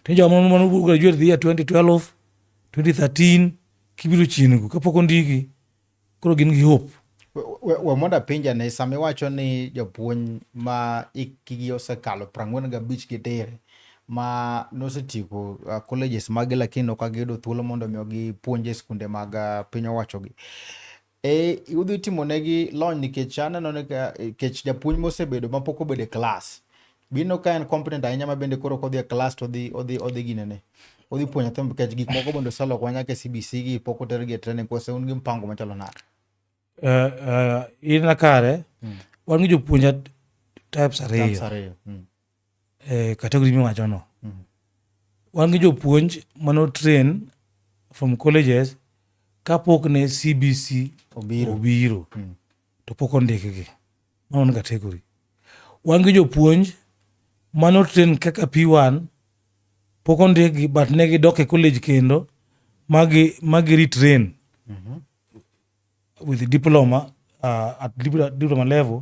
to joma mano graduate the year 2012 2013 kibiro chiengo kapok ondiki koro gin gi hope we mondo apinja ni sama iwacho ni japuonj ma ikigi osekalo prang'wen gabich gi dire ma nosetieko uh, colleges magi lakini ok agiyudo thuolo mondo omi gipuonj e skunde mag uh, piny owachogi Eh, udhi timo negi lony nikech aneno ni ka- nikech japuonj mosebedo ma pok obedo e klas. Bino ka en competent ahinya ma bende koro kodhi e klas to odhi odhi odhi ginene. Odhi puonjo nyathi nikech gik moko bende oseloko nyaka e CBC gi pok otergi e training kose un gi mpango machalo nade. Eh, eh, in na kare wan gi jopuonja types ariyo Types ariyo. Mm. e kategori miwachono. Mm. Wan gi jopuonj mano train from colleges kapok ne CBC obiro, obiro. Mm. to pok ondikgi. Mano en kategori. Wan gi jopuonj mano train kaka P1 pok ondikgi but ne gidok e college kendo magi magi retrain mm -hmm. with diploma uh, at diploma level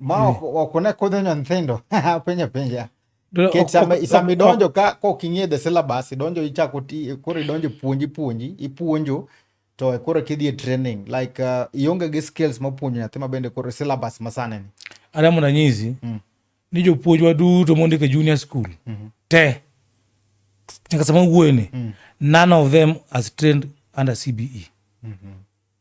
Ma ok ok ne kodhi nyo nyithindo. Penja penja. Dra- Ket ok- sama ok- sama ok- idonjo ka kok ing'e the syllabus, idonjo ichako ti koro idonjo puonji puonji, ipuonjo to koro kidhi e training like uh, ionge gi skills ma puonjo nyathi ma bende koro syllabus ma sani ni. adamo ranyisi Mm. ni jopuonjwa duto mondiko e junior school Mhm. te nyaka sama wuoyeni Mm. none of them has trained under cbe Mhm.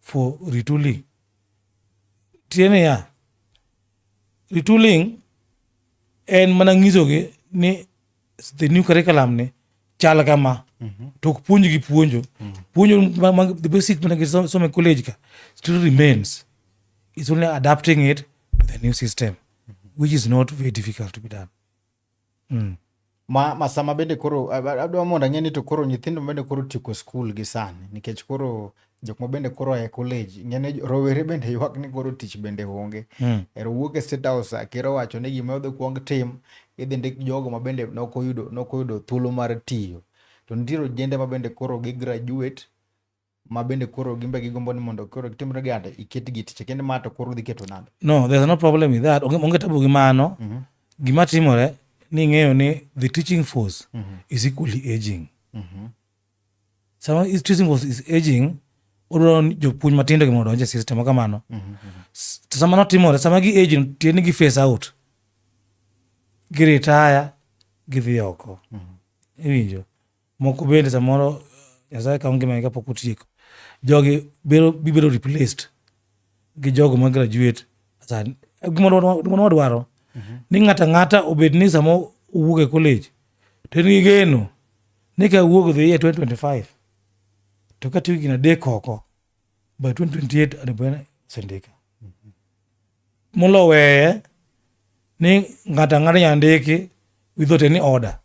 for retooling. Tiene ya, retooling en mana nyisogi ni the new curriculum ni chal kama mm -hmm. to ok puonjgi puonjo mm -hmm. puonjo ma, ma, the basic mana gisome college ka still remains it's only adapting it to the new system mm -hmm. which is not very difficult to be done Mm. Ma, ma sama bende koro adwa mondo ang'e ni to koro nyithindo bende koro tieko skul gi sani nikech koro jok ma bende koro e college ng'ene rowere bende ywak ni koro tich bende onge mm. ero wuok e state house ker owacho ni gima odhi kuong tim idhi ndik jogo ma bende nok oyudo nok oyudo thuolo mar tiyo to nitiere ojende ma bende koro gi graduate ma bende koro gimbe gigombo ni mondo koro gitimre gi ande iket gi tich kendo ma to koro dhi keto nade no there's no problem with that onge tabu gi mano mm -hmm. gima timore ni ng'eyo ni the teaching force mm -hmm. is equally aging mm -hmm. sama so, teaching force is aging odwaro jopuonj matindo gi mondo donje system kamano mm -hmm. to sama notimore sama gi age tiye ni gi face out giritaya gidhi oko mm -hmm. iwinjo Moko bende samoro Nyasaye kawo ngimagi kapok otieko. Jogi biro bibiro replaced gi jogo ma graduate sa gima wadwa- gima wadwaro ni ng'ato ang'ata obed ni sama owuok e college to en gi geno ni ka wuok dhi e 2025 to katiyo higni adek oko by 2028 onego bed ni osendika mulo weye ni ng'ato ang'ata nyalo ndiki without any order.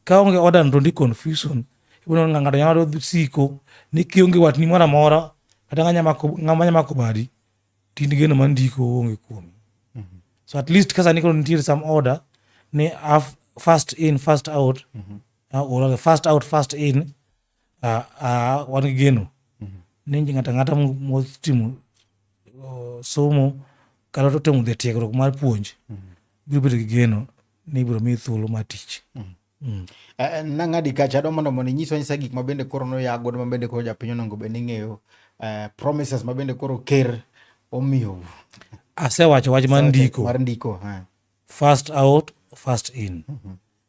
Ka onge order to ndi confusion. Ibono nga ng'ato nyalo siko ni kionge watni moro amora kata ng'ama nya mako badi tin geno ma ndiko onge kuomi. So at least ka sani koro nitiere some order ni first in first out mm -hmm. uh, or first out first in ah, ah, wan gi geno ni ng'ato ang'ata mo- motimo oh, somo kata to temo dhi e tiegruok mar puonj biro bedo gi geno ni ibiro miyi thuolo mar tich Mm. Eh, nang'adi kacha adwa mondo mondo inyiswa nyisa gik ma bende koro noya godo ma bende koro japiny onongo bende ing'eyo eh, promises ma bende koro ker omiyo asewacho wach mar ndiko mar ndiko eh. first out first in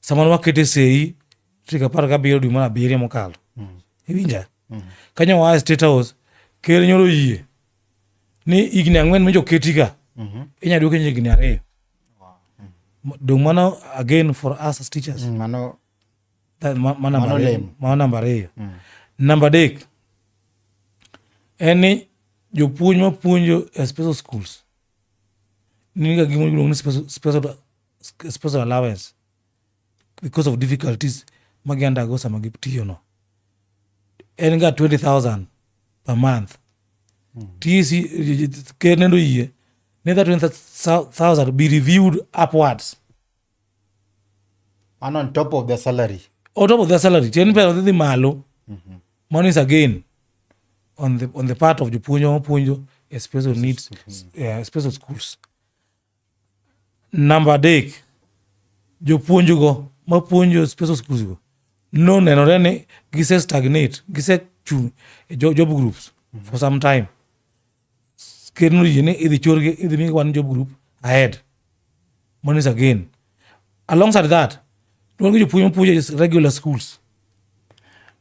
sama wakete sei tarik apar gabiriyo dwe mar abiriyo mokalo mm. iwinja mm. kanyo oa e state house ker nyoro yie ni higni ang'wen mijoketiga mm-hmm. inyalo duoke higni ariyo mm. dong mano again for us as teachers mano namba ariyo namba adek en ni jopuonj mapuonjo e special schools niga gimoro iluongo ni special sponsor allowance because of difficulties ma giandago sama gitiyono en ga 20000 per month TC ker nendo yie ne that 20000 be reviewed upwards and on top of the salary on top of the salary ten pesa odhi malo mano is again on the, on the part of jopuonjo mapuonjo especially needs uh, special schools Namba adek, jopuonjgo mapuonjo special schools go nonenore ni gise stagnate, gise chung' e job groups for some time. Ker noyie ni idhi chorgi, idhi migi one job group ahead. Mano is again. Alongside that, wan gi jopuonj mapuonjo e regular schools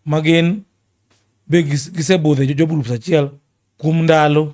magin be gisebudho e job groups achiel kuom ndalo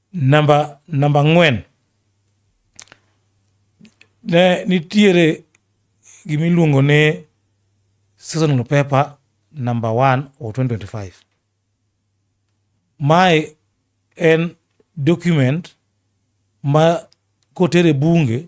Namba namba ang'wen, ne nitiere gima iluongo ni seasonal paper number one of 2025. Mae en document ma kotere bunge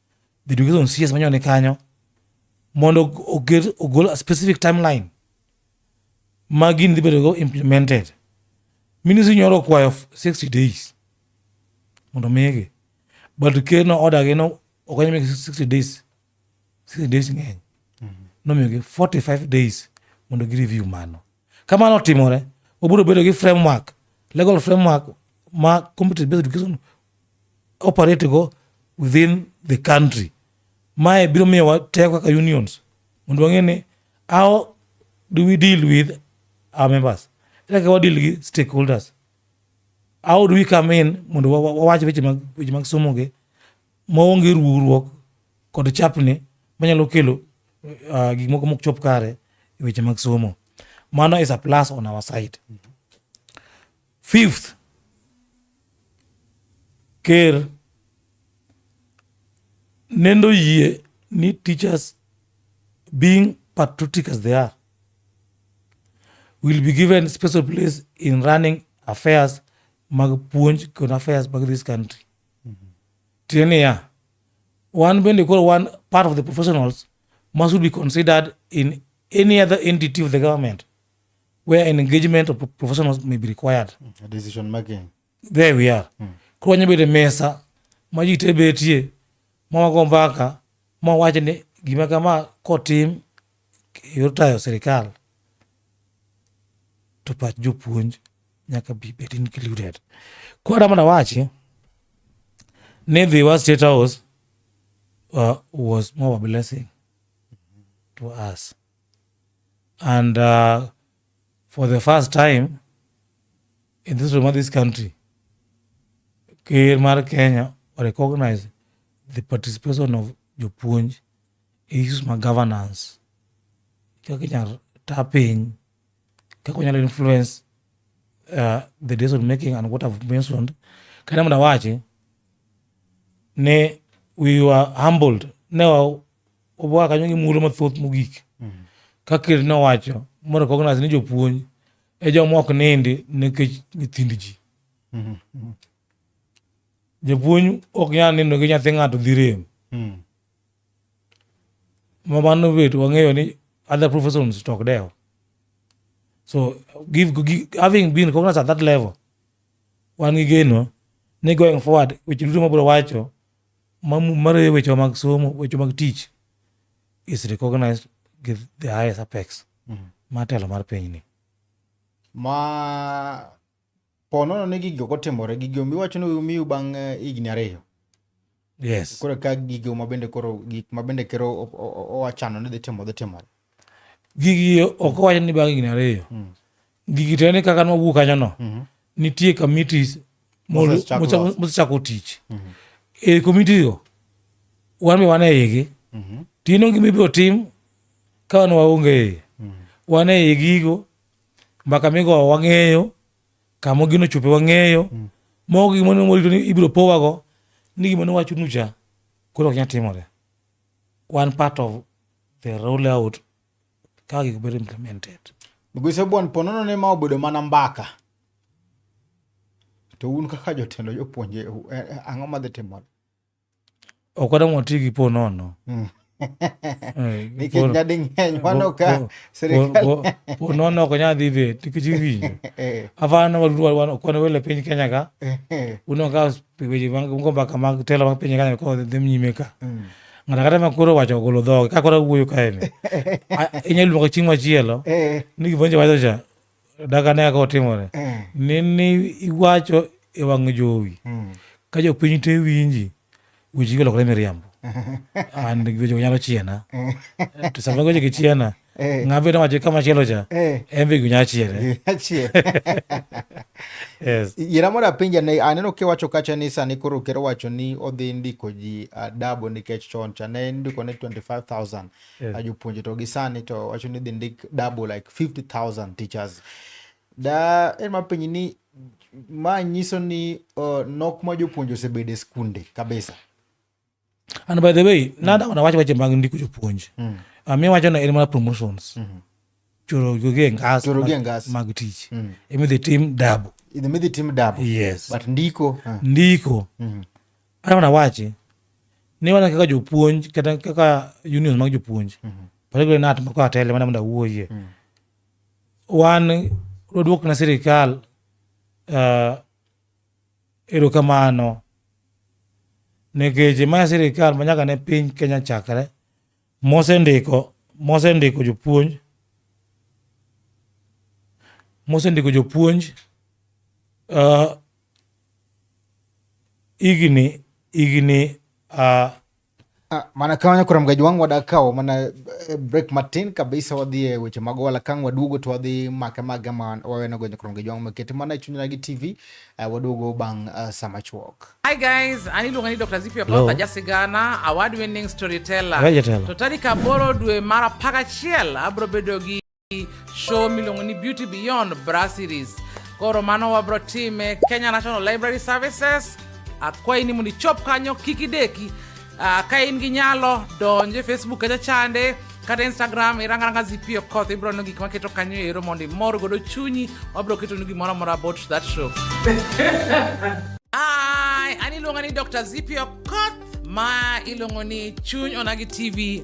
the education CS manyo ni kanyo mondo oger ogol a specific timeline ma gini dhi bedogo implemented ministry nyoro okwayo 60 days mondo migi but ker no order gi no okonyo migi 60 days 60 days ng'eny nomiyogi 45 days mondo gireview mano Ka mano otimore, obiro bedo gi framework, legal framework ma community based education operate go within the country. Mae biro miyo watego kaka unions mondo wang'e ni how do we deal with our members? Ere kaka wadeal gi stakeholders? How do we come in mondo wawach weche mag somo gi? maonge ruwruok kod chapni manyalo kelo uh, gik moko mok chop kare e weche mag somo mano is a plus on our side fifth ker nendo yie ni teachers being patriotic as they are will be given special place in running affairs mag puonj kod affairs mag this country Tiende niya, wan bende koro wan part of the professionals ma should be considered in any other entity of the government where an engagement of professionals may be required. A decision making. There we are. Mm. Koro wanya bedo e mesa ma ji te betie ma wago mbaka ma wacho ni gima kama kotim e yor tayo sirikal to pach jopuonj nyaka bi bed included koro adwa mondo awachi ni the wa state house uh, was more of a blessing to us and uh, for the first time in this room of this country ker mar kenya recognize the participation of jopuonj e issues ma governance kaka inyalo ta piny kaka wanyalo influence uh, the decision making and what I've mentioned kata mondo awachi ne we were humbled ne obwa kanyo gi mulo mathoth mogik mm. kaka ker ne owacho mo recognize ni jopuonj e joma ok nindi nikech nyithind ji mm-hmm. japuonj ok nyal nindo gi nyathi ng'ato dhi rem mm. ma mano bet wang'eyo ni other professions to ok dewo so give, give, having been cognizant at that level wan gi geno ni going forward weche duto mabiro wacho mareye weche mag somo weche mag tich is recognized gi the highest apex mm. matelo mar pinyni ma po nono ni gigo kotimore gigo miwacho ni umiu bang' eh, higni ariyo yes koro ka gigo mabende koro gik mabende kero owachano ni dhi timo dhi timore gigi ok owacho ni bang' higni ariyo hmm. gigi to ni kaka nwawuo kanyono mhm. nitie committees mosechako tich mhm. e committee go wan be wan e igi mhm. tino gima ibiro tim ka wan waonge iye wan e igigo Mbaka migowo wang'eyo, kama gino ochope wang'eyo. Mm. Moko gik mane morito ni ibiro powago, ni gima nowacho nucha koro ok nyal timore. Wan part of the roll out kaka gik bedo implemented. Migosi Obwan, ponono ne ma obedo mana mbaka. To un kaka jotelo jopuonje, eh, eh, ang'o madhi timore? ok wadang' wati gi po nono mm. eh, nikech nyading'eny wano ka sirikal po nono ok nyal dhi bet nikech iwinjo eh. afana kwan wele piny kenya ka eh. uno ka weche go mbaka mag telo mag piny kenya ko dhi nyime ka mm. ng'ato kata ma koro wacho ogolo dhoge ka koro wuoyo kaeni inyalo luongo chieng' machielo ni gimwenje wacho cha daga ne kaka otimore mm. ni ni iwacho e wang' jowi mm. ka jopiny te winji weche golokore miriambo and weche nyalo chiena mm. to sama weche gi chiena eh. ng'ama bedo wacho kama chielo cha eh. en be gunya chiere yes yera mora pinja ne aneno kiwacho kacha ni sani koro kero wacho ni odhi ndiko ji adabo nikech chon cha ne ndiko ne 25000 yeah. ajopuonje to gisani to wacho ni dhi ndik double like 50000 teachers da en mapenyi ni ma nyiso ni uh, nok ma jopuonje osebedo e skunde kabisa and by the way mm. nada wanawacho weche mag ndiko jopuonje mm. uh, mi wacho na en mana promotions mm -hmm. chorogoge ngas Chorogoge ngas. mag tich mm. emidhi tim dabu idhi midhi tim dabu yes. but ndiko uh. ndiko mm. kata mana wachi ni wana kaka jopuonj kata kaka union mag jopuonj mm -hmm. particularly nat mako atele mana mondo awuoyie mm. wan waduok na sirikal uh, erokamano nikech ma sirikal ma nyaka ne piny kenya chakre mosendiko mosendiko jopuonj mosendiko jopuonj uh, igni igni uh, Ah, mana ka wanya kuram gajwang wada kao mana eh, break matin kabisa wadhi e weche mag wala kang waduogo to wadhi make maga ma waweno gonyo kuram gajwang makete mana e chunyna gi tv uh, eh, waduogo bang uh, eh, sama chuok Hi guys, ani luongo ni Dr. Zipio Hello. Kotha Jasigana, award winning storyteller. Raja Tela. To tarik aboro dwe mar apar gachiel abro bedo gi show miluongo ni Beauty Beyond Bra Series. Koro mano wabro time Kenya National Library Services. Akwayi ni mondo ichop kanyo kik ideki Uh, ka in gi nyalo donj e facebook kacha chande kata instagram irangaranga zp okoth ibiro neno gik maketo kanyo ero mondo imor godo chunyi wabiro ketonu gimoro amora about that show Hi, an iluonga ni dr zp okoth ma iluongo ni chuny onagi tv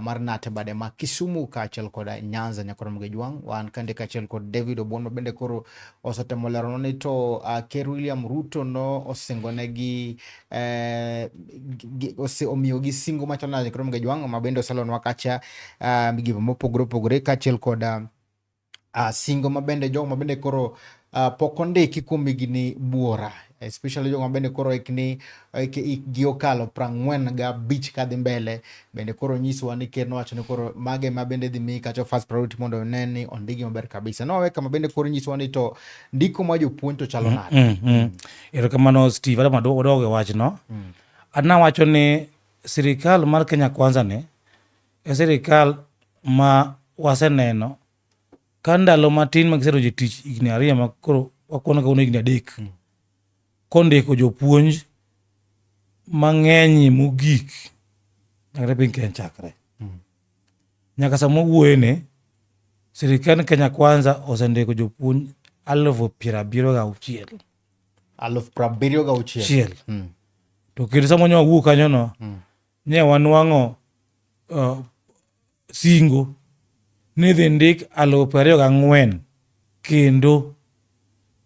mar Nate bade ma Kisumu kaachiel kod Nyanza Nyakoro Mugejwang'. Wan kande kaachiel kod David Obon ma bende koro osetemo leronwa ni to uh, Ker William Ruto no osingonegi eh, omiyogi singo machal nade Nyakoro Mugejwang' ma bende oselonwa kacha uh, migepe mopogore opogore kaachiel kod uh, uh, singo mabende jogo mabende koro uh, pok ondiki kuom higni buora especially jogo mabende koro hikni hikgi okalo prang'wen ga bich kadhi mbele bende koro nyiswa ni ker nowacho ni koro mage ma bende dhi mi kacho first priority mondo one ni ondigi maber kabisa no weka mabende koro nyiswa ni to ndiko ma jopuonj to chalo mm, nade mm, mm, mm. erokamano steve adama dogo wachno mm. adna wacho ni sirikal mar kenya kwanza ni e sirikal ma waseneno ka ndalo matin ma giserojo tich higni ariyo ma koro wakwano kawuono higni adek hmm. kondiko jopuonj mang'eny mogik nyakre piny Kenya chakre hmm. nyaka sama wuoyene sirikand Kenya Kwanza osendiko jopuonj alufu piero abiriyo ga auchiel alufu piero abiriyo ga auchiel hmm. to kendo sama nyo wawuo kanyono Ne wanwang'o uh, singo ni dhi ndik alufu piero ariyo gang'wen kendo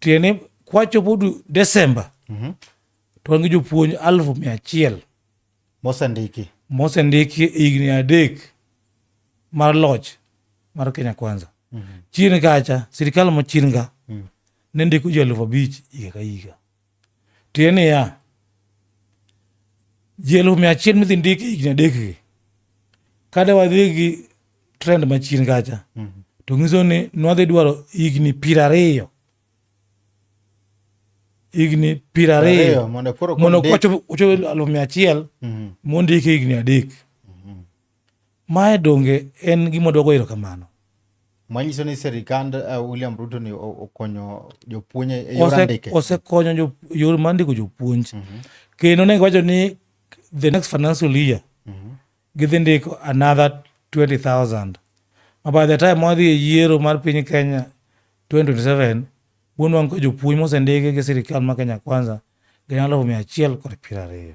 tiende kwachopo Desemba mm -hmm. to wan gi jopuonj alufu mia achiel mosendiki mosendiki higni adek mar loch mar Kenya Kwanza mm -hmm. chien kacha sirikal mochienga mm -hmm. ne ndiko ji alufu abich higa ka higa Tiende niya, ji elfu mia achiel midhi ndik e higni adekgi kada wadhi gi trend machien kacha mm -hmm. to nyiso ni nwadhi dwaro higni piero ariyo higni piero ariyo mondo kochopo aluf mia achiel mhm. mondiki higni adek Mae donge en gima waduogo erokamano? Manyiso ni sirikand uh, William Ruto ni okonyo jopuonj e yor andike. Osekonyo jo, yor mar ndiko jopuonj. Mm -hmm. Kendo ne giwacho ni the next financial year mm -hmm. gidhi ndiko another 20,000 ma by the time wadhi e yiero mar piny Kenya 2027 wuon wango ka jopuonj mosendiki gi sirikal ma Kenya Kwanza gin alufu mia achiel kod piero ariyo.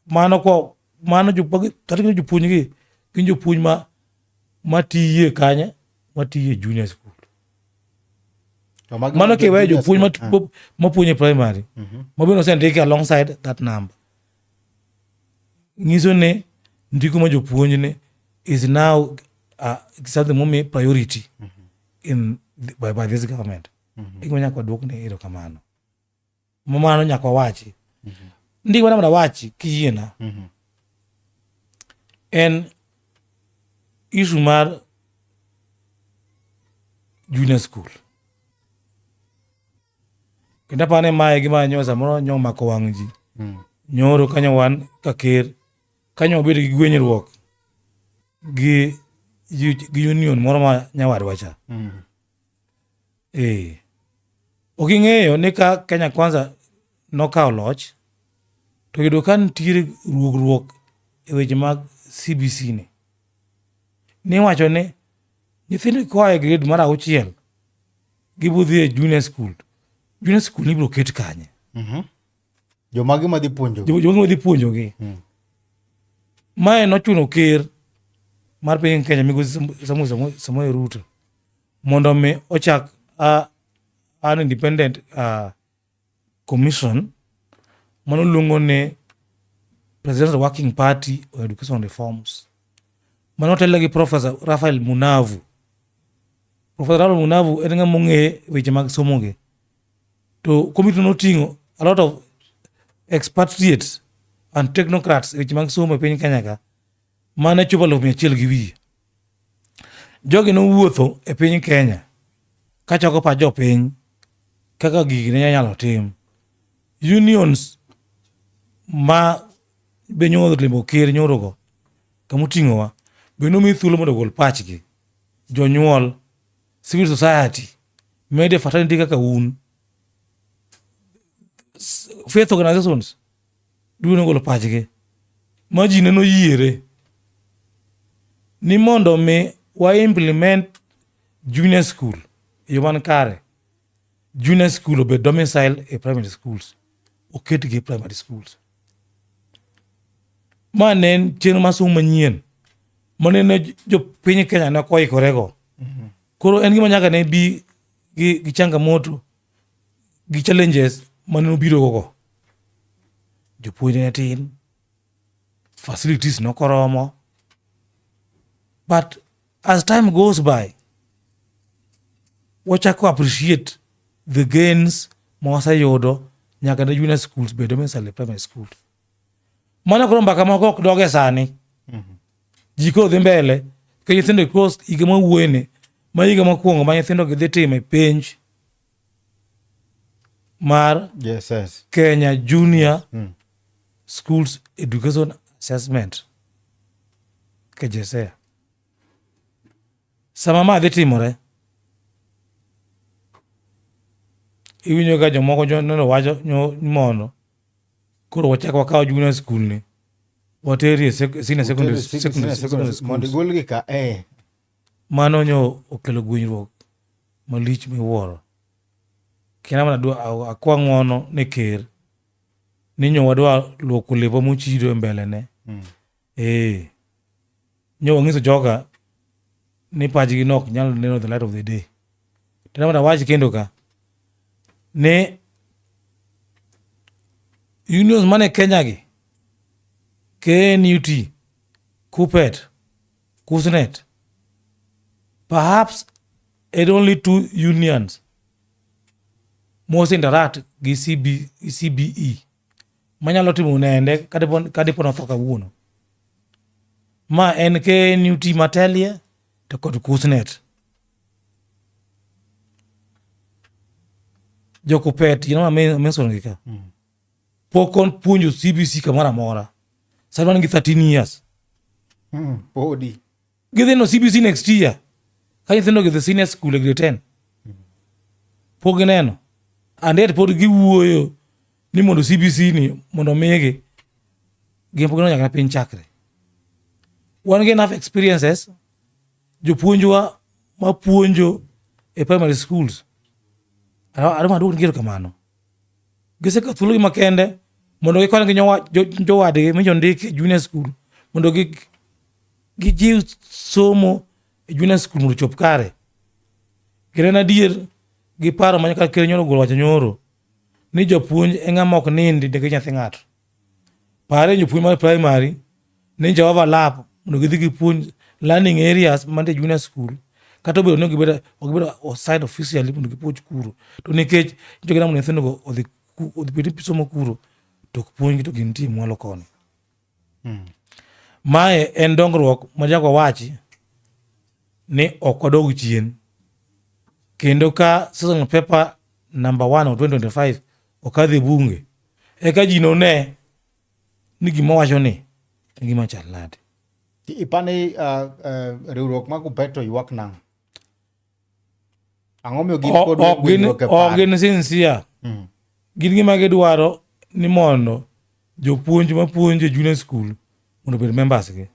mano ko mano kata kendo jopuonj gi gin jopuonj ma matiye kanye matiye junior school mano kiweyo jopuonj mapuonj e primary mhm. mabende osendiki alongside that number nyiso ni ndiko ma jopuonj ni is now uh, something momi priority mhm. in by, by this government mm -hmm. ikwenya kwaduok ni ero kamano mumano nyaka wawachi mm -hmm. ndi wana mna wachi kiyiena mm -hmm. en isu mar junior school kendo apane mae gima nyo samoro nyo mako wang' ji mm. nyoro kanyo wan ka ker kanyo wabedo gi gwenyruok gi gi union moro ma nyawadwa cha mm. Eh. Ok ing'eyo ni ka Kenya Kwanza nokawo loch to yudo ka nitiere ruogruok e weche mag CBC ni. Niwacho ni nyithindo koa e grade mar auchiel gibodhi e junior school. Junior school ibiro ket kanye? Mhm. Jomagi madhi puonjo. Jo- Jogo madhi puonjogi. Mae nochuno ker mar piny Kenya migosi Samuel Samuel Ruto. mondo mi ochak a, an independent uh, commission mano luongo ni presidential working party on education reforms mano otelo gi professor rafael munavu professor rafael munavu en ng'ama ong'e weche mag somo gi to komiti noting'o a lot of expatriates and technocrats e weche mag somo e piny kenya ka mane chopo alufu mia achiel gi wiye. Jogi nowuotho e piny Kenya kachoko pach jopiny kaka gigi ne nyalo tim. Unions ma be nyoro limo ker nyorogo kamoting'owa be nomi thuolo mondo ogol pachgi. Jonyuol, civil society, mede fraternity kaka un, faith organizations Dwe nogolo pachgi ma ji ne noyiere ni mondo mi wa implement junior school e yo man kare junior school obed domicile e primary schools oketgi e primary schools ma ne en chenro mar somo manyien ma ne ne jopiny kenya ne koikorego koro en gima nyaka ne bi gi, gi changamoto gi challenges mane obiro gogo. Jopuonj ne tin, facilities ne ok oromo. But as time goes by, wachako appreciate the gains ma waseyudo nyaka ne junior schools bed domicile primary school. Mano koro mbaka moko ok doge sani. Mhm. Ji koro dhi mbele ka nyithindo e kos higa ma wuoyene ma higa mokwongo ma nyithindo gi dhi timo e penj mar JSS. Kenya Junior mm. Schools Education Assessment KJSEA. Sama ma dhi timore iwinjo ka jomoko nyono wacho mono Koro wachak wakawo junior school ni wateri e senior e secondary school mondo igolgi ka eh. Mano nyo okelo gwenyruok malich miwuoro. Kena mana dwa akwa ng'wono ne ker ni nyo wadwa luoko lepa mochido e mbele ne. Mm. Ee, nyo wang'iso joga ni pachgi nok nyalo neno the light of the day. Tena mata wach kendo ka ni unions mane Kenya gi KNUT, KUPET, KUSNET, perhaps it only two unions most interact gi CB, CBE. manyalo timo nende kadipo notho kawuono ma en knut matelie to kod kusnet jokupet you know, mensogi ka mm. pok on puonjo cbc kamoro amora sadwan gi 13 years mm, podi gidhi no cbc next year ka nyithindo gidhi senior school e grade 10 pok gineno and yet pod giwuoyo ni mondo cbc ni mondo migi gin pok gineno nyaka piny chakre wan gi enough experiences jopuonjwa mapuonjo e primary schools adwa maduok ngero kamano giseka thuologi makende mondo gikony gi jowadgi mi jondik e junior school mondo gi Gijiw somo e junior school mondo chop kare. Ginen adier gi paro ma nyaka ker nyoro gol wacho nyoro ni jopuonj e ng'ama ok nindi ndege nyathi ng'ato. Pare jopuonj mar primary ni jo overlap mondo gidhi gipuonj learning areas mantie junior school kata obedo ni gibedo ok gibedo assigned officially mondo gipuonj kuro to nikech nitie gina mondo nyithindo go odhi odhi bed somo kuro to ok puonjgi to gintie mwalo koni. Hmm. Mae en dongruok machako wachi ni ok wadog chien kendo ka season paper number one of 2025 okadhi bunge eka ji none ni gima wacho ni en gima chal nade. Ipani uh, uh, riwruok mag Upeto ywak nang'o? Ang'o miyo gin kod ok gin winjruok e ok paro? gin sincere Mm. gin gima gidwaro ni mondo jopuonj mapuonjo e junior school mondo obed members gi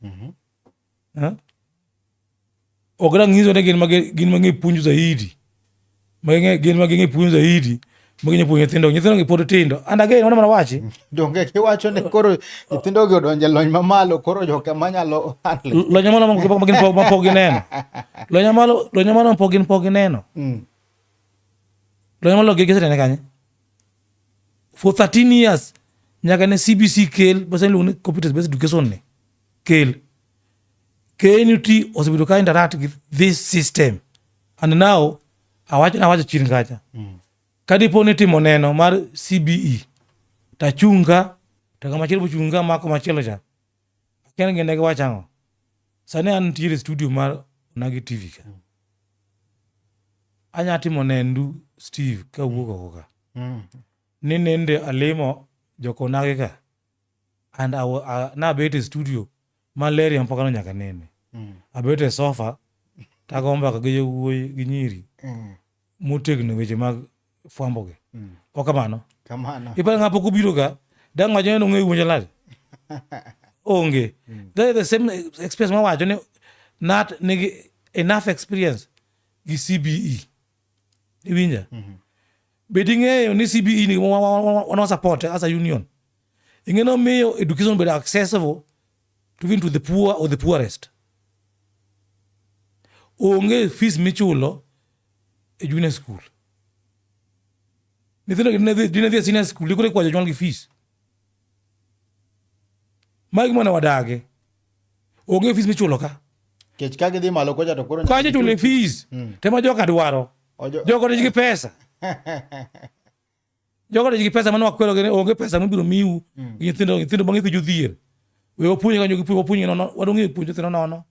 Mhm. Eh? ok dang' nyiso ni gin ma gi- gin ma ging'e puonjo zaidi ma ging'e- gin ma ging'e puonjo zaidi Mwenye puonjo nyithindo, nyithindo gi pod tindo. And again, wana mana wachi. Donge kiwacho ne koro nyithindo gi odonje lony mamalo, koro joka manyalo handle. Lony mamalo mapok gin pok mapok gineno. Lony mamalo, lony mamalo mapok gin pok gineno. Mm. Lony mamalo gi gisetene kanye? For 13 years, nyaka ne CBC kel, basa iluongo ni competence based education ni. Kel. KNUT osebedo ka interact with this system. And now awacho nawacho chien kacha mm. kadipo ni timo neno mar cbe tachung' ka to ng'ama chielo bochung' ka mako machielo cha akia gende giwacho ang'o sani an nitiere studio mar onagi tv ka mm. anya timo nendu steve ka wuok oko ka mm. ni nende alimo jokonagi ka and nabet e studio malaria mpaka no nyaka nene mm. abet e sofa tago mbaka gi jowuoyi gi nyiri mm. motegno weche mag fwambogi mm. ok kamano kamano iparo ng'a pok obiro ga dang' wacho ni nong'e wuonjo lad onge mm. that is the same experience ma wacho ni nat nigi enough experience gi cbe iwinja mm-hmm. be ting'eyo ni cbe ni wana support as a union ing'eno miyo education bedo accessible to even to the poor or the poorest onge fees michulo e junior school nyithindo dine dhi e senior school ikore kwa jonyuolgi fees magi mwana wadage onge fees michulo ka kech ka gidhi malo kocha to koro kacha chule fees mm. tema joka dwaro joka nigi pesa joka nigi pesa mano wakwero gene onge pesa mibiro miu mm. nyithindo nyithindo bang'e kujo dhier we wapuonje kanyo gipuonje wapuonje nono wadong'e puonje nyithindo nono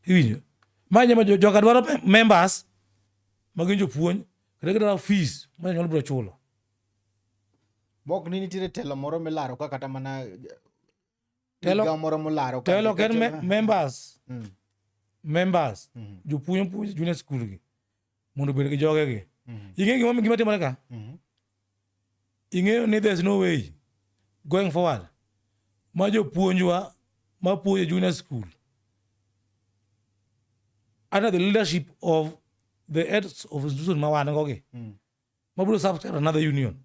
iwinjo ma nyama joka dwaro members ma gin jopuonj kata gidwaro fees ma nyalo biro chulo Mok ni nitiere telo moro milaro ka kata mana telo moro molaro ka. Telo ken me, members. Mm. Members. Mm -hmm. Jopuonj puonj junior school gi. Mondo bed gi joge gi. Mm -hmm. Ing'e gima gima timore ka? Mm -hmm. Ing'eyo ni there's no way going forward. Ma jopuonjwa ma puonjo junior school under the leadership of the heads of institution ma wan go gi. Mm. mabiro subscribe another union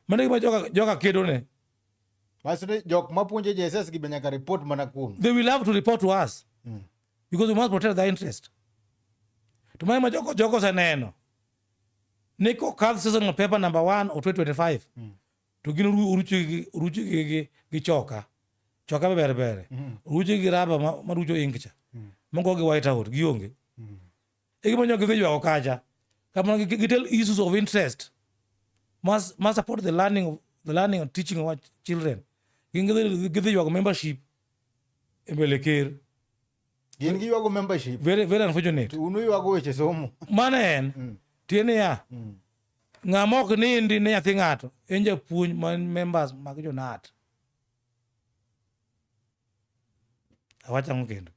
mane gima joka, joka kedo ne Masri jok mapuonjo JSS gi nyaka report mana kuom they will have to report to us mm. because we must protect their interest to mane ma joko joko seneno ni kokadh season of paper number 1 or 2025 mm. to gin uruchi gi uruchi gi gi choka choka be berbere mm. uruchi gi raba ma, ma rucho inkcha mm. mongo gi white out gionge mm. e gima nyo githi jwago kacha kamano gitel issues of interest must, must support the learning of the learning and teaching of our children gin githi jwago membership e mbele ker gin giywago membership very, very unfortunate unu ywago weche somo mano en mm. tie niya mm. ng'ama ok nindi ne nyathi ng'ato en japuonj man members mag jonat awacho ang'o kendo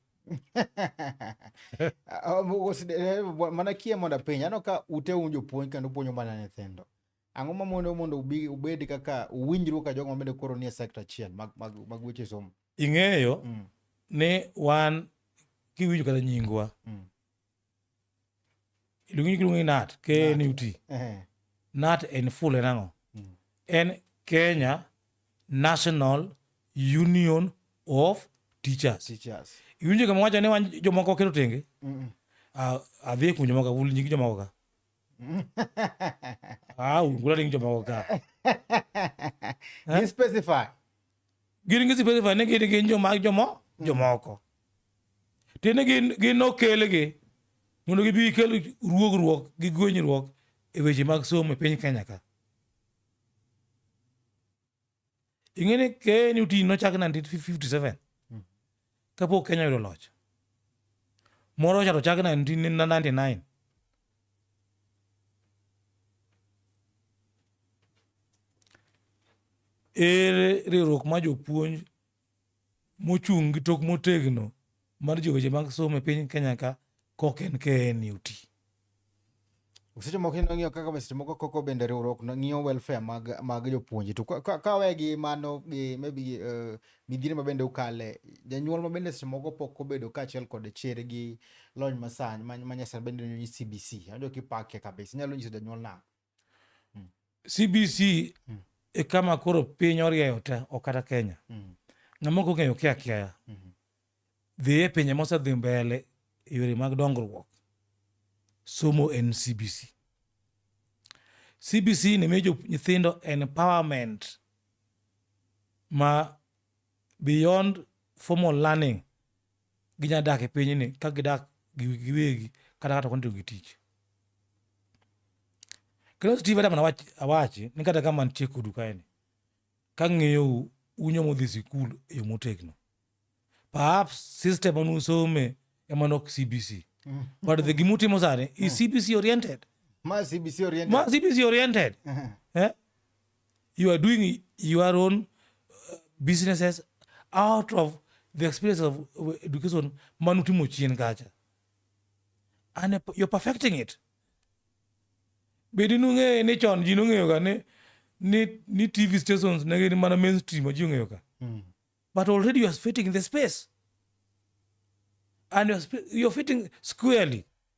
ah, oh, mana kie mondo apenj aneno ka ute un jopuonj kendo puonjo mana nyithindo ang'o ma mondo mondo ubed kaka uwinjru ka jogo mabende koro nie sekta achiel mag, mag, mag weche somo ing'eyo mm. ni wan kiwinjo kata nyingwa mm. iluongi giluongi nat knut eh. nat en full en ang'o hmm. en kenya national union of teachers iwinjo kama wacho ni wan jomoko keto tenge adhi kuom jomoko wul nying jomoko ka ah, wula nying jomoko ka eh? gin gi sipesi fa ni gin gin joma jomo jomoko tiende gin gin okelgi mondo gibi kel ruogruok gi gwenyruok e weche mag somo e piny kenya ka ing'e ni knuti nochak 1957 kapok Kenya oyudo loch. Moro cha to chak 1999. Ere riwruok ma jopuonj mochung' gi tok motegno mar joweche mag somo e piny Kenya ka kok en KNUT. Seche moko ineno ng'iyo kaka seche moko koko bende riwruok ng'iyo welfare mag mag jopuonje to ka we gi mano gi maybe uh, midhiero ma bende ukale janyuol ma bende seche moko pok obedo kaachiel kod chere gi lony masani ma nyasani bende nyisi CBC. Anjo kipake kabisa inyalo nyiso janyuol nang'o? mm. cbc mm. e kama koro piny orieyo te ok kata kenya mm. ng'ama ok ong'eyo kia kiaya mm -hmm. dhi e pinje mosedhi mbele e yore mag dongruok somo en cbc cbc ni miyo nyithindo empowerment ma beyond formal learning ginya dak e pinyni ka gidak giwegi kata kata kontiyo gi tich kendo steve adam awach, awachi ni kata ka mantie kodu kaeni ka ng'eyou unyo modhi sikul e yo motegno perhaps system manusome ema nok cbc mm. but the gimutimo sani is mm. cbc oriented ma cbc oriented, ma CBC oriented. Uh -huh. eh? You are doing your own uh, businesses out of the experience of uh, education manutimo chien kacha. And uh, you're perfecting it. Bedi nung'eyo ni chon ji nong'eyo ga ni ni ni TV stations ne gin mana mainstream ma ji ong'eyo ka. Mm. But already you are fitting the space. And you're, you're fitting squarely.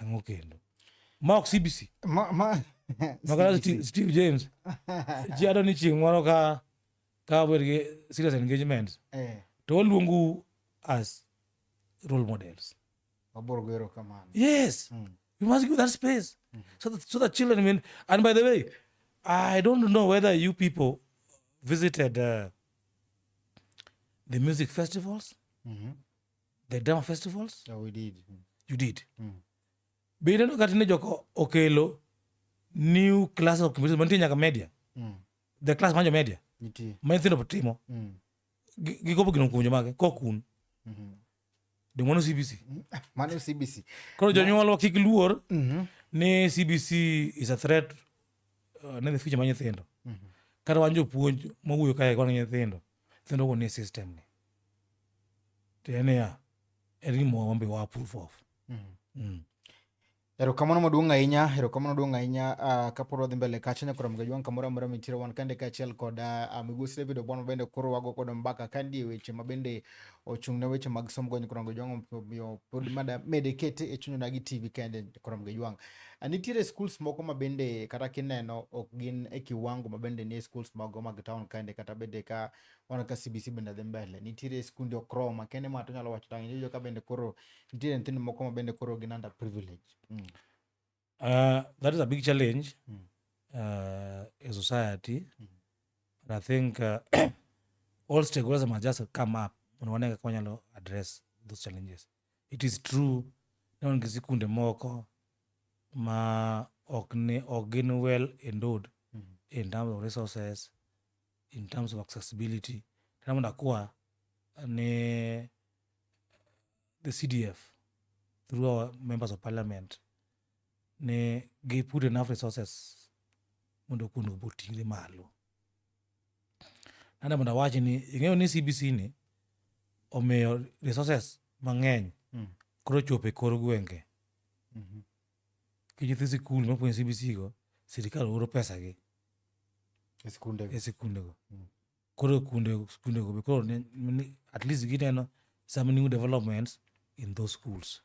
Ang'o kendo? Ma ok CBC. Ma ma Makala Steve, Steve James. Ji ado ni chieng' moro ka ka wer gi serious engagement eh to waluongu as role models. waboro gero kamano. Yes. Mm. You must give that space so that so that children will. And by the way, I don't know whether you people visited uh, the music festivals. Mhm. the drama festivals yeah, we did. Mm. you did mm. be ineno kata ni joko okelo new class of computer mantie nyaka media mm. the class manjo media nitie ma nyithindo timo mm. gikopo gino kuom jomage kokun mm -hmm. de mano cbc mm, ah, mano cbc koro jonyuolwa kik luor mm -hmm. ni cbc is a threat uh, ne the future ma nyithindo mm -hmm. kata wan jopuonj mawuoyo kae kwana nyithindo Then don't need system ni. Then yeah, any more one be wa proof of. Mm. Mm. Erokamano maduong' ahinya, erokamano maduong' ahinya uh, ah, kapod wadhi mbele kacha nyakoro mga jwang' kamoro amora mitiro wan kande kaachiel kod uh, migosi David Obwana bende koro wago kod mbaka kandi e weche ma bende ochung' ne weche mag somo go nyakoro mga jwang' omiyo pod mada mede kete e chunyona gi TV kende nyakoro mga jwang'. Ah, nitiere schools moko ma bende kata kineno ok gin e kiwango ma bende nie schools mago mag town kende kata bende ka wana ka CBC bende dhi mbele. Nitiere skunde ok rom ma kende ma to nyalo wacho tang' iyudo ka bende koro nitiere nyithindo moko ma bende koro gin under privilege. Mm. Uh, that is a big challenge mm. uh, in society. Mm. And I think uh, all stakeholders must just come up and one can address those challenges. It is true ni wan gi sikunde moko ma ok ni ok gin well endowed in terms of resources in terms of accessibility tena mondo akwa ni the cdf through our members of parliament ni gi put enough resources mondo kuondogo oting're malo nade mondo awachi ni ing'eyo ni cbc ni omiyo resources mang'eny mm. koro chopo e kor gwenge mm -hmm. ki nyithi sikul mapuonjo cbc go sirikal oro pesa gi e sikunde go mm. koro kunde sikunde go koro at least gineno some new developments in those schools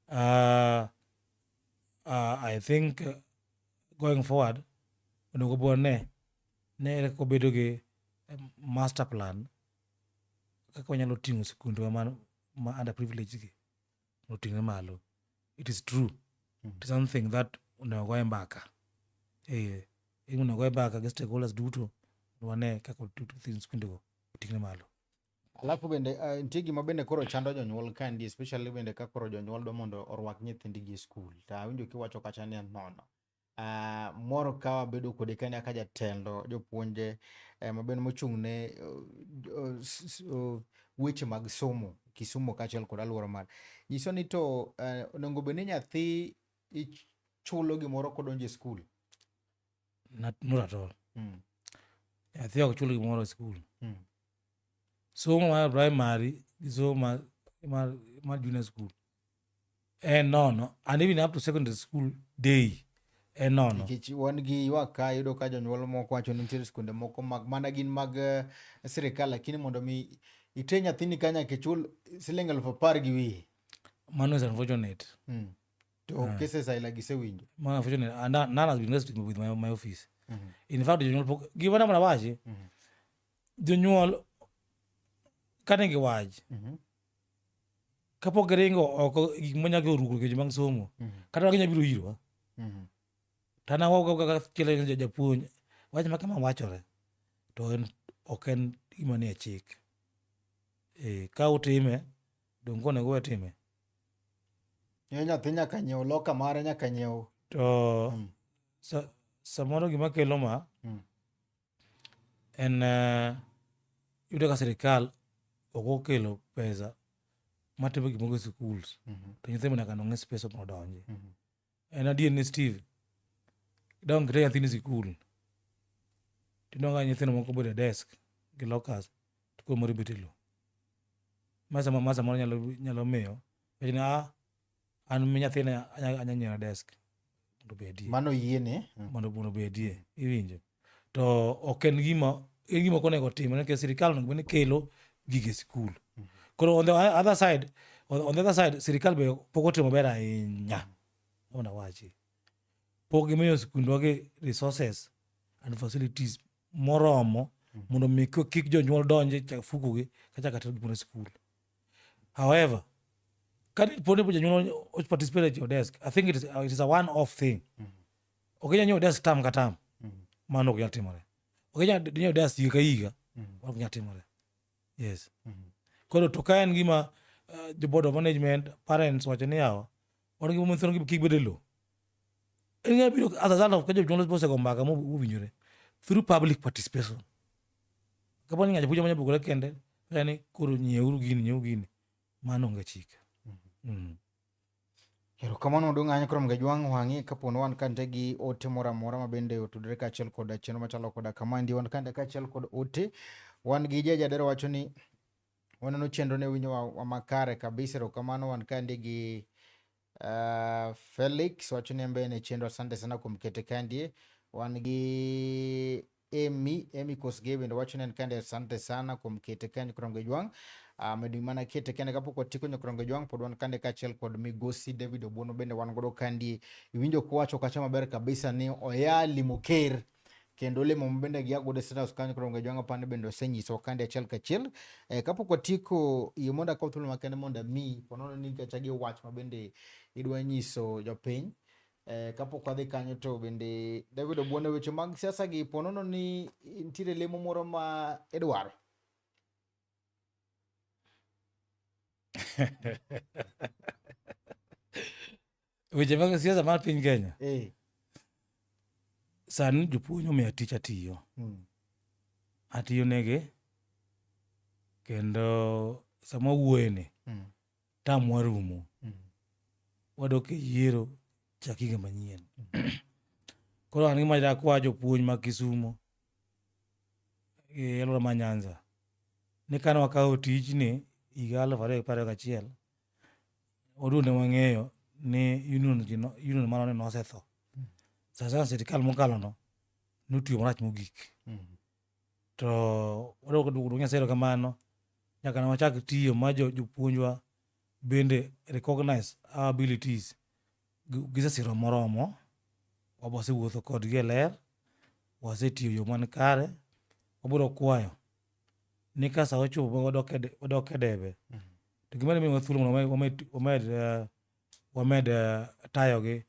uh, uh, i think uh, going forward onego bwa ne ne ere kaka obedo gi eh, master plan kaka wanyalo ting'o sikundwa ma, ma under privilege gi oting'e malo it is true mm. it is something that onego goye mbaka eh onego goye mbaka gi stakeholders duto wane kaka sikundego oting'e malo Alafu bende uh, nitie gima bende koro chando jonyuol kandi especially bende ka koro jonyuol dwa mondo orwak nyithindgi e skul to awinjo kiwacho kacha ni nono uh, moro ka wabedo kode kani aka jatelo jopuonje eh, mabende mochung' ne uh, uh, weche mag somo Kisumu kaachiel kod aluora mar nyiso ni to uh, onego bed ni nyathi ichulo gimoro kodonjo e skul not, not at all Mm. nyathi ok chul gimoro e skul Mm. somo mar primary gi somo mar, mar, mar junior school en nono and even up to secondary school day en nono nikech wan gi ywak ka yudo ka jonyuol moko wacho ni nitiere skunde moko mag mana gin mag eh, sirikal lakini mondo mi ite nyathini ka nyaka ichul siling alufu apar gi wiye mano is unfortunate mm. to ah. cases ay lagi se winjo man unfortunately and uh, none has been resting with my, my office mm -hmm. in fact jonyuol pok gimana mana wachi mm -hmm. jonyuol kane giwachi mm -hmm. kapok giringo oko gik manya gi oruko kejo bang' somo mm -hmm. kata waginya biro irwa mm -hmm. tanawachiel japuonj wach ma kama wachore to en ok en gima nie chik e, ka utime donge onego we time Yo nyathi nyaka nyiew loka mare nyaka nyiew. To mm. sa, samoro gima kelo ma mm. en uh, yudo ka sirikal ok okelo pesa matimo gimoro e schools mm -hmm. to nyithindo nyaka nong'e space mondo odonji mm -hmm. en adier ni steve idong kite nyathini sikul tinonga nyithindo moko bedo e desk gi lokas to koro moro ibet e lo ma sama ma samoro nyalo nyalo miyo wacho ni ah an mi nyathina anya anya nyiera desk mondo obedie mano yiene mondo mondo obedie iwinjo to ok en gima en gima ok onego otimre nikech sirikal onego bed ni kelo gige sikul koro on the other side on, on the other side sirikal be pok otimo maber ahinya ona wachi pok gimiyo sikundwa gi resources and facilities moromo mondo mi kik kik jonyuol donje fukugi kachaka tero gimoro e sikul however ka dipo ni jonyuol o- participate at your desk i think it is, it is a one off thing ok inyal nyiewo desk tam ka tam mm. mano ok nyal timore ok inyal nyiewo desk higa ka higa mm. ok nyal timore yes mm. koro to ka en gima uh, the board of management parents wacho ni yawa wan gi momithino gi kik bede lo en gima biro as a result of ka jonyuol osego mbaka mowinjore through public participation kapo ni ng'ato puonjo manya bugore kende kani koro nyieuru gini nyieuru gini mano onge chike mm. mm. Erokamano odong' anya koro mga jwang' wang'i kapo ni wan kante gi ote moro amora ma bende otudore kaachiel koda chenro machalo koda kamandi wan kante kaachiel kod ote wan gi ja jadero wacho ni waneno chenro ne winjo wa- wa makare kabisa erokamano wan kande gi uh, felix wacho ni en be en e chenro asante sana kuom kete kandie wan gi Emi Emi Kosgei bende wacho ni en kende asante sana kuom kete ka Nyakrongo Ojwang' ah, medo um, mana kete kende kapok watieko Nyakrongo Ojwang' pod wan kande kaachiel kod migosi David Obuono bende wan godo kandi iwinjo kuwacho kacha maber kabisa ni oya limo ker kendo lemo mabende gia godo State House kanyo koro jwanga pande bende osenyiso kande achiel kachiel e, eh, kapok watieko yie mondo akaw thuolo makende mondo ami ponono ni kacha gi wach mabende idwa nyiso jopiny Eh, kapok wadhi kanyo to bende David Obuono weche mag siasa gi ponono ni nitiere lemo moro ma idwaro. weche mag siasa mar piny Kenya eh. Sani jopuonj omiya tich atiyo hmm. atiyo nege kendo sama wuoyeni hmm. tam warumo mm. wadok e yiero chak higa manyien mm. koro an gima dakwa jopuonj ma kisumo e alwora ma nyanza ni kane wakawo tijni higa aluf ariyo gi pariyo gachiel oduonde wang'eyo ni union mano ni nosetho mm. sasa sirikal mokalono notiyo marach mogik mm. To wadwa ka duogo Nyasaye erokamano nyaka ne wachak tiyo ma jopuonjwa bende recognize our abilities. Gisesiro moromo, wasewuotho kodgi e ler, wasetiyo yo man kare. Wabiro kwayo ni ka sa ochopo ma wadok e debe, to gima dimiwa thuolo mondo wamed eh, wamed eh, tayogi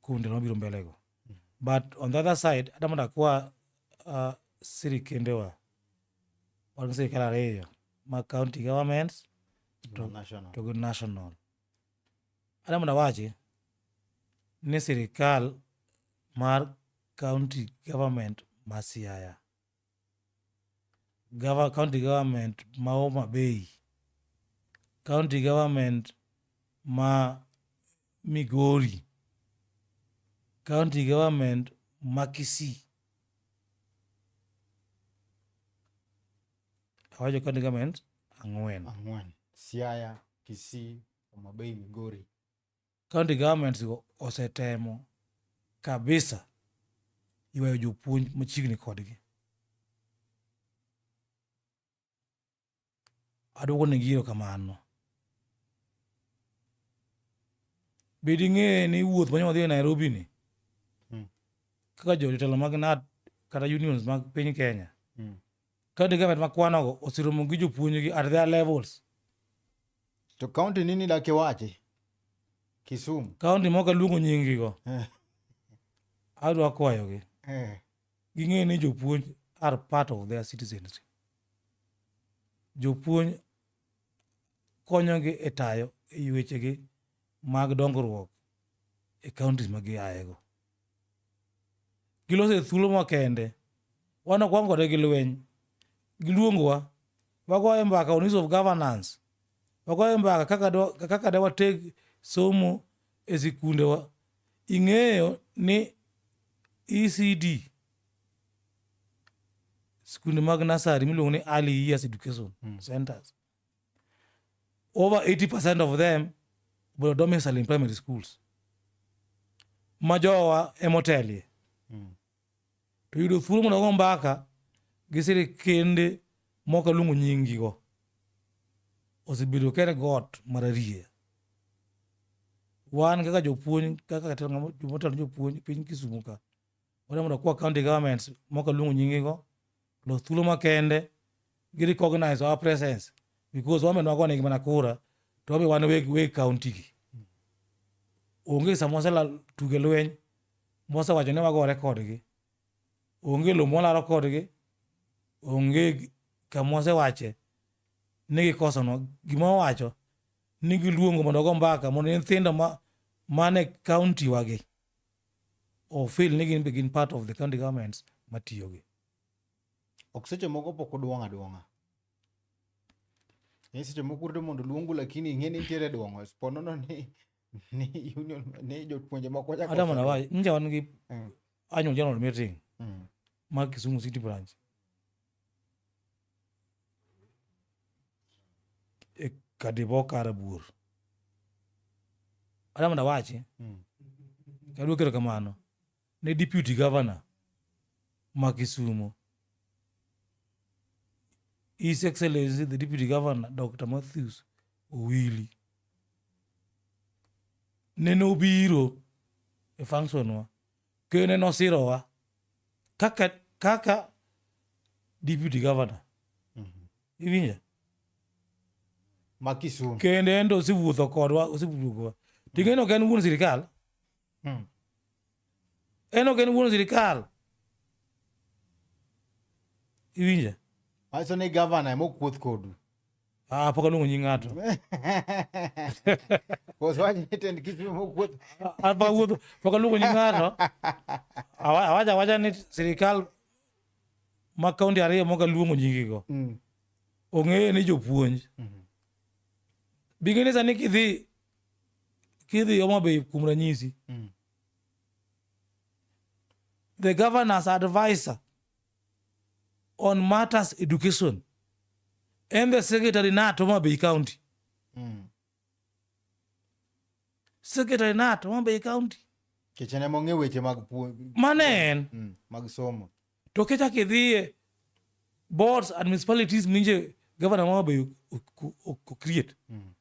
kuom ndalo mabiro mbelego but on the other side ada mondo akwa uh, sirikendewa wan sirikal ariyo ma county governments to, National. to go national ada mondo awachi ni sirikal mar county government ma siaya gava, county government ma Homa Bay, county government ma Migori, county government ma Kisii. Awacho county government ang'wen. Ang'wen. Siaya, Kisii, Homa Bay, Migori. County governments go osetemo kabisa ywayo jopuonj machiegni kodgi. Aduogo ne giro kamano. Be ding'e ni wuoth manyo wadhi e Nairobi ni hmm. kaka jotelo mag NAT kata unions mag piny Kenya hmm. County government ma kwanogo oseromo gi jopuonjgi at their levels. To county nini dak iwachi? Kisumu. County mok aluongo nyingigo, Eh, adwa kwayogi. eh. Ging'e ni jopuonj are part of their citizenry. Jopuonj konyogi e tayo e wechegi mag dongruok e counties ma giayego. gilose thuolo makende wan ok wan kode gi lweny giluongowa wagoye mbaka on of governance wagoye mbaka kaka da wateg somo e sikundewa ing'eyo ni ecd sikunde mag nasari miluongo ni early years education mm. centers Over 80% of them were domiciled in primary schools. Majowa emotelie. Mm. To yudo thuolo mondo go mbaka gi sirikende moko luongo nyingigo osebedo kere got mararie. Wan kaka jopuonj kaka jatelo jomotelo jopuonj piny Kisumu ka wadwa mondo kwa county governments moko luongo nyingigo lo thuolo makende gi recognize our presence because wame nwago nigi mana kura to wabe wan weg weg county gi onge sama wasela tuge lweny mwasewacho ni wagore kodgi onge lo mwalaro kodgi onge kama wasewache ni gikosonwa gima wawacho ni giluongo mondo go mbaka mondo nyithindo ma mane county wagi ofil ni gin be gin part of the county governments matiyogi. Ok seche moko pok oduong' aduong'a. Ni seche moko urito mondo luongu lakini ing'e ni nitiere duong'o. Sponono ni ni union ni jopuonje moko chako. Hata mana wacho nje wan gi mm. annual general meeting. Mm. ma kisumu city branch e kadibo kara buor adama da wache mm. kadwa kero kamano ne deputy governor ma kisumu his excellency the deputy governor dr matthews owili nene obiro e functionwa Kene nosirowa kaka kaka deputy governor. Iwinjo? ma Kisumu. Kendo en to osewuotho kodwa, osewuotho kodwa. Ting'eno ok en wuon sirikal. Mm. En ok en wuon sirikal. Iwinjo? Wacho ni gavana ema okuoth kodu. Ah, pok aluongo nying ng'ato. Koso wacho ni tend kich ma okuot. Ah, pok awuotho, pok aluongo nying ng'ato. Awa- Awacha awacha ni sirikal ma kaunti ariyo mok aluongo nyingigo Mm. ong'eyo ni jopuonj. Mhm. Bing'e ni sani kidhi kidhi Homa Bay kuom ranyisi, Mm. the governor's advisor on matters education and the secretary nato Homa Bay County. Mm. Secretary nato Homa Bay County. Kichene mong'e weche mag puonj. Mane en. Mm. Mag somo. To kecha kidhiye boards and municipalities minje governor Homa Bay create. Mm.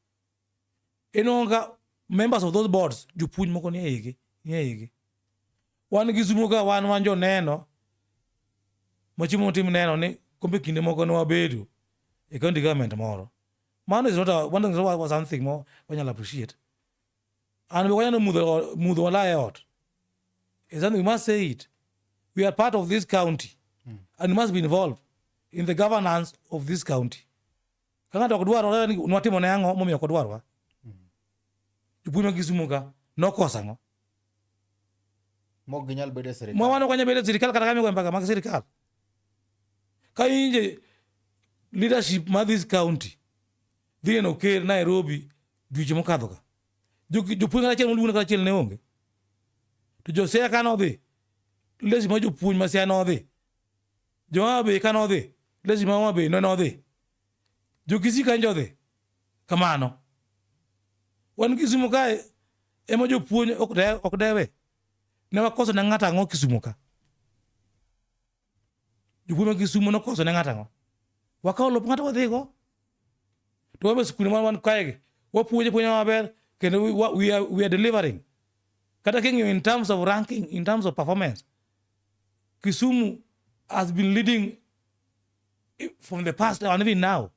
inongo ka members of those boards jopuonj moko nie igi nie igi wan gi sumo ka wan wan joneno machimo motim neno ni kombe kinde moko ne wabedo e county government moro mano is not a, one thing, was something more wanyalo appreciate and be wanyalo mudho mudho wala e ot is something we must say it we are part of this county mm. and must be involved in the governance of this county Ka ng'ato ok dwarore ni watimo ne ang'o momiyo ok odwarwa? Jopuonj mag Kisumo ka nokosa ang'o? Mok ginyal bedo e sirkal. Mwa wano kanyal bedo e sirkal kata kamigo mbaka mag sirkal. Ka inje leadership ma this county dhi neno ker Nairobi dweche mokadho ka. Jopuonj kata achiel moluongo kata achiel ne onge. To Josea ka nodhi leadership ma jopuonj ma Siaya nodhi Joma be ka nodhi, lesi ma be ne nodhi. Jokisi ka njo dhi. Kamano. Wan Kisumu kae ema jopuonj ok de, ok dewe. Ne wakoso ne ng'ato ang'o Kisumu ka? Jopuonj ma Kisumu nokoso ne ng'ato ang'o? Wakawo lop ng'ato wadhigo. To wabe sikunde ma wan kaegi, wapuonje puonja maber kendo we, we, are, we are delivering. Kata king'iyo in terms of ranking, in terms of performance, Kisumu has been leading from the past and even now.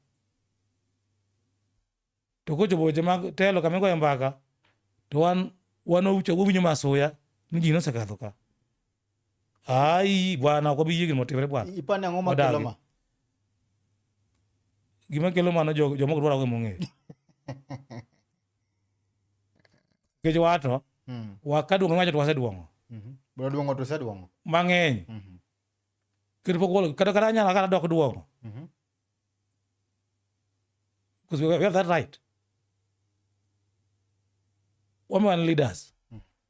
To ko jobo jama telo kame goyo mbaka to wan wan ucho go winyo masuya ni ji nosekadho ka. Ai bwana ko biye gimo timre bwana. Ipane ang'o ma kelo ma? Gima kelo mano jomo dwaro go mong'eyo. Nikech wato, mm. waka duong' wacho to waseduong'o. Mm-hmm. Bro duong'o to waseduong'o. Mang'eny. Mm-hmm. Kendo pok wolo, kata kata anyala kata dok duong'o. Mm-hmm. Because we have that right. Women leaders.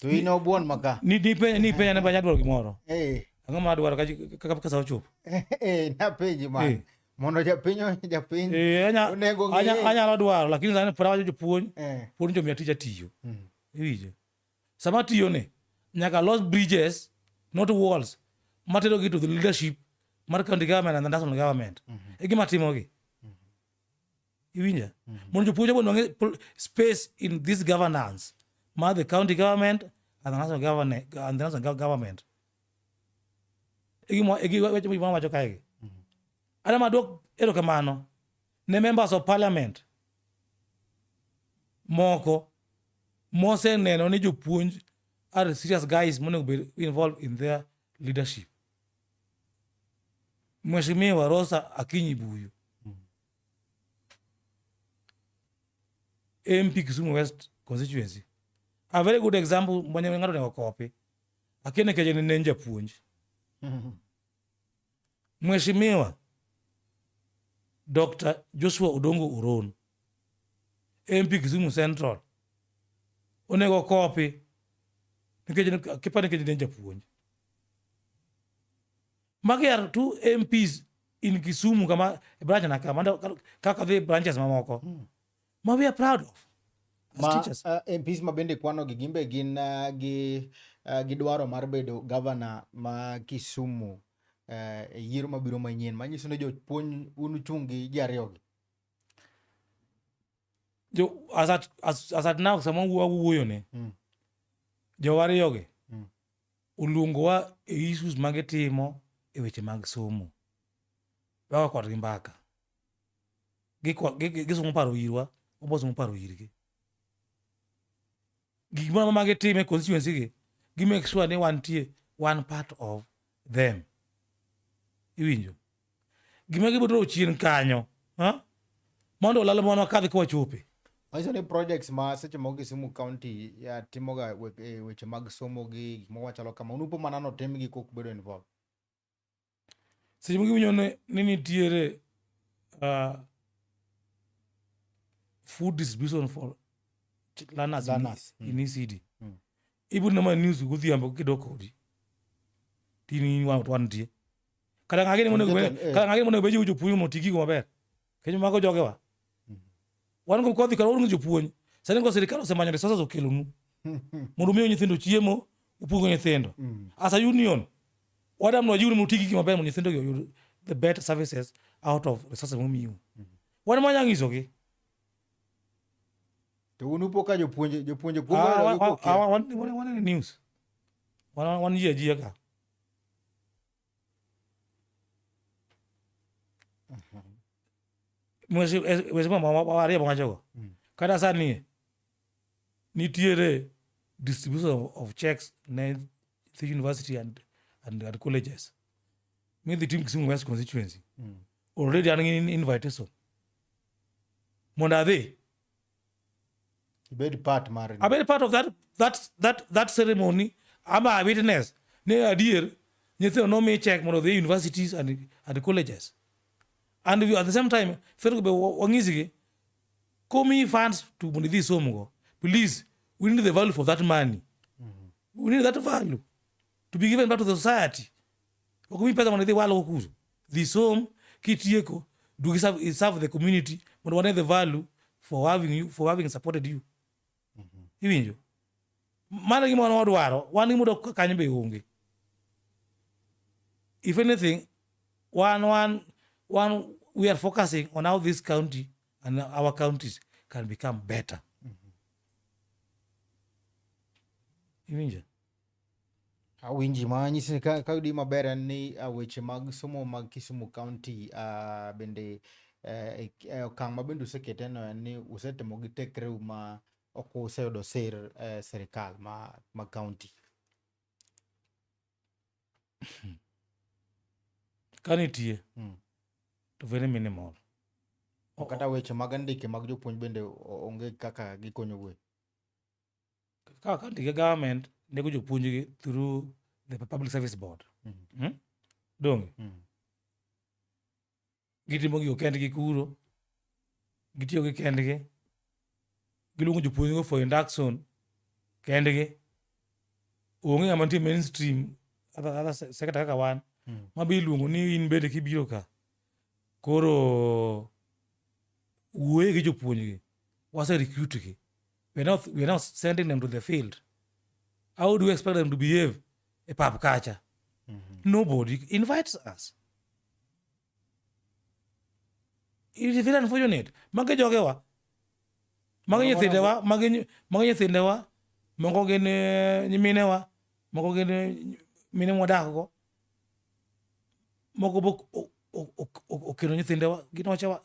To in obuon maka. Ni ni penye ni penye na banya dwaro gimoro. Eh. Ang'o ma dwaro kaka kasa ochup? Eh, na penji ma. Eh. Mondo japiny japiny. Eh, anya onego anya anya dwaro lakini sani pora wajo jopuonj. Eh. Puonj jo miatija tiyo. Mm. Iwinjo. Sama tiyo ne nyaka los bridges not walls matero gi to the leadership mar county government and the national government. Mm -hmm. E gima timogi. iwinja mm -hmm. mondo jopuonj mondo wang'e space in this governance mar the county government and the national government, and the national government. wacho kaegi ana madwok erokamano ne members of parliament moko moseneno ni jopuonj are serious guys monego bed involved in their leadership mheshimiwa rosa akinyi buyu MP Kisumu West constituency. A very good example mwenye ng'ato ne okopi. Akene keje ni nenja puonj. Mheshimiwa Dr. Joshua Odongo Uron, MP Kisumu Central, onego okopi nikech kipani keje nenja puonj. Magi are two MPs in Kisumu kama branch na kama kaka the branches mamoko. Mm. Ma we are proud of. Ma, teachers. Uh, MPs ma bende kwano gi gimbe gin uh, gi uh, gidwaro mar bedo governor ma Kisumu uh, e yiero mabiro manyien manyiso ni jopuonj un uchung' gi ji ariyogi. jo as at as, as at now sama wawuoyo ne mm. jowariyogi mm. oluongowa e issues ma gitimo e weche mag somo wawa kodgi mbaka gisomo paro irwa wabosomo paro irgi gik moro ma gitime constituency gi gi make sure ni wantie one part of them iwinjo gima gibotoro chien kanyo ha? mondo olalo mwana kadhi kwa chope Manyiso ni projects ma seche moko Kisumu County ya timoga we- e weche mag somo gi gik moko machalo kama, unupo mana notimgi kok bedo involved. seche moko iwinjo ni nitiere uh, food distribution for learners, learners. in mm. ECD. Mm. Even nama news godhiambo kidok odi. Tini wang to antie. Kata ngage ni monego kata ngage monego beji ujo puyo motigi go maber. Kenyo mago jogewa. Mm. Wan go kodhi kar wan jopuonj. Sani go sirikal osemanyo resources okelonu. Mondo miyo nyithindo chiemo, upuongo nyithindo. Mm. As a union, wadam no jiwu mutigi gima ber mondo nyithindo oyud the better services out of resources mumiu. Mm. Wan manya ngiso gi. To unu poka jopuonje jopuonje kuom ah, wan wan wan news. Wan wan yie jiya ka. wesimo wawarie mwachogo mm. kata sani nitiere distribution of, of checks ne the university and, and, and colleges mi dhi tim kisumu west constituency mm. already an in invitation mondo adhi ibed part mar abed part of that that that that ceremony ama a witness ne adier nyithindo nomi check mondo dhi universities and, and colleges and we, at the same time federal be wang'isigi komi funds to mondo idhi somgo please we need the value for that money mm -hmm. we need that value to be given back to the society ok mi pesa mondo idhi walo kuzo dhi som kitieko dugi serve, serve the community mondo wane the value for having you for having supported you mm -hmm. iwinjo mano gima wan wadwaro wan gima dok kanyo be onge if anything one one one we are focusing on how this county and our counties can become better mm -hmm. iwinjo Awinji ma nyisi ni ka yudi maber en ni uh, weche mag somo mag Kisumu County uh, bende eh, eh, okang' ma bende usekete no en ni usetemo gi tekreu ma ok useyudo sir eh, sirikal ma, ma county. Ka nitie Mm. to very minimal. O- Kata weche mag andike mag jopuonj bende o- onge kaka gikonyo gue. Kaka ndike government nego jopuonjgi through the Public Service Board. Mm. Hmm? Donge? Mm. Gitimo gigo kendgi kuro. Gitiyo gi kendgi. Giluongo jopuonjgo for induction kendgi. Onge ng'ama nitie mainstream other, other sector kaka wan. Mm. Ma be iluongo ni in bende kibiro ka. Koro wuoye gi jopuonjgi. Wase recruit gi. we're not, we're not sending them to the field. How do you expect them to behave a pub catcher? Mm-hmm. Nobody invites us. It is very unfortunate. Mage jogewa. Mage nyithindewa, mage mage nyithindewa, moko gin eh, nyiminewa, moko gin eh, mine mwadakgo. Moko bok okelo nyithindewa, gin wachewa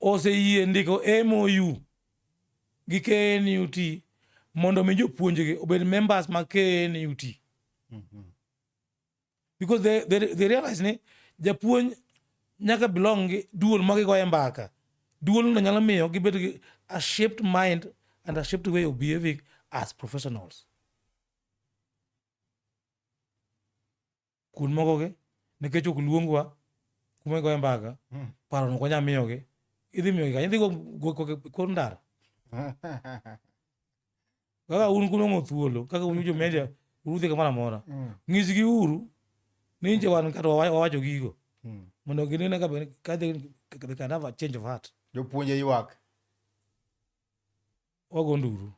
oseyie ndiko MOU gi KNUT mondo mi jopuonjgi obed members mag KNUT. Mm -hmm. Because they, they, they realize ni japuonj nyaka belong gi duol ma gigoye mbaka. Duol no nyalo miyo gibed gi a shaped mind and a shaped way of behaving as professionals. kun moko gi nikech ok luongwa kuma igoye mbaka hmm. paro no konya miyo gi idhi miyo gi idhi go ko ko ndara kaka un kuno ngo thuolo kaka un jo media urudhi kamoro amora hmm. ng'is gi uru ni nje wan kata wawacho gigo hmm. mondo ginene ka ka they can have a change of heart jopuonje ywak wago nduru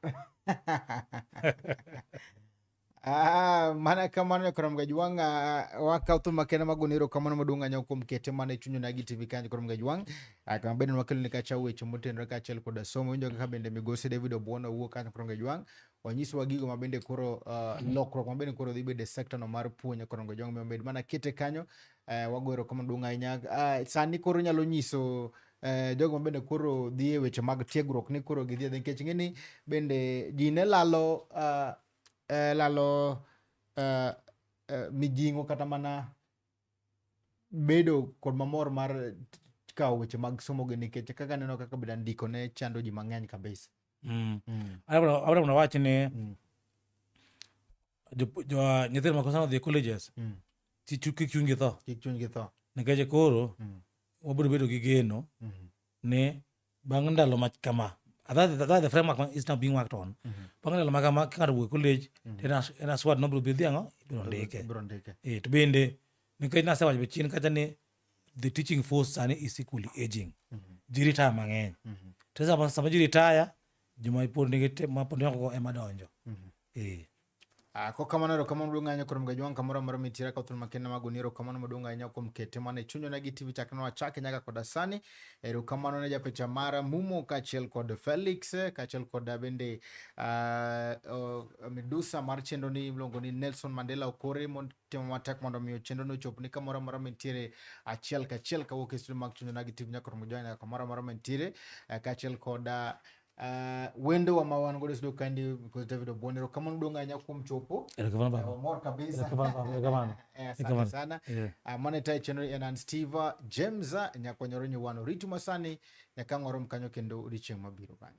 Ah, mana kamano nyakorom gajwang ah, wakaw thum makende magone erokamano maduong' anyo kuom kete mana e chuny onagi tv kanyo korom gajwang Ah, kama bende wakelo ni kacha weche motenore kaachiel koda somo winjo kaka bende migosi david obuona owuok kanyo korom gajwang wanyisowa gigo ma bende koro ah, lokruok ma bende koro dhi bedo e sekta no mar puonj korom gajwang omiyo med mana kete kanyo Eh, wago erokamano duong' ahinya. Ah, sani koro nyalo nyiso eh, jogo ma bende koro dhi e weche mag tiegruok ni koro gidhi adhi nikech ing'eni bende ji ne lalo ah, eh, lalo eh, eh, mijing'o kata mana bedo kod mamor mar kawo weche mag somogi nikech kaka neno kaka bende andiko ne chando ji mang'eny kabisa. Mm. Mm. Abro abro na wach ni Mm. jo- jo- nyithindo makosana odhi e colleges Mm. ti- chu- kik chunygi tho Kik chunygi tho. nikech koro Mm. wabiro bedo gi geno Mhm. ni bang' ndalo ma kama Ah, that- that- that the framework ma- is now being worked on Mhm. bang' ndalo ma kama ka ng'ato wuok e college Mhm. to en as- en aswad nobiro bidhi ang'o ibiro ndike Ibiro ndike. Eh, to bende nikech nasewacho be chien kacha ni the teaching force sani is equally aging mm -hmm. ji retire mang'eny mm -hmm. to sama, sama ji retire joma ipod nigi mapod noko ema donjo mm -hmm. eh. Ah, ko kamano ero kamano duong' ahinya kuom gajwang' kamoro amora mitira ka thuno makende mago ni ero kamano maduong' ahinya kuom kete mana e chunywa na gi tv chakre wachake nyaka koda sani ero kamano ne japicha mara mumo kaachiel kod felix kaachiel kod bende uh, uh, midusa mar chenro ni iluongo ni nelson mandela okore mond timo matek mondo omiyo chenro no chop ni kamoro amora mantiere achiel kachiel kawuok e studio mag Chunjo Nagi TV nyaka romo join kamoro amora mantiere eh, kaachiel koda Uh, wendo wa mawan godo sido kandi because David Obonero kama ndonga anya kum chopo erokamano baba eh, mor kabisa erokamano eh, asante sana yeah. uh, mane tai channel ya Nan Steve James nyakonyoro nyuwano ritu masani nyakangoro mkanyo kendo odichieng mabiro bani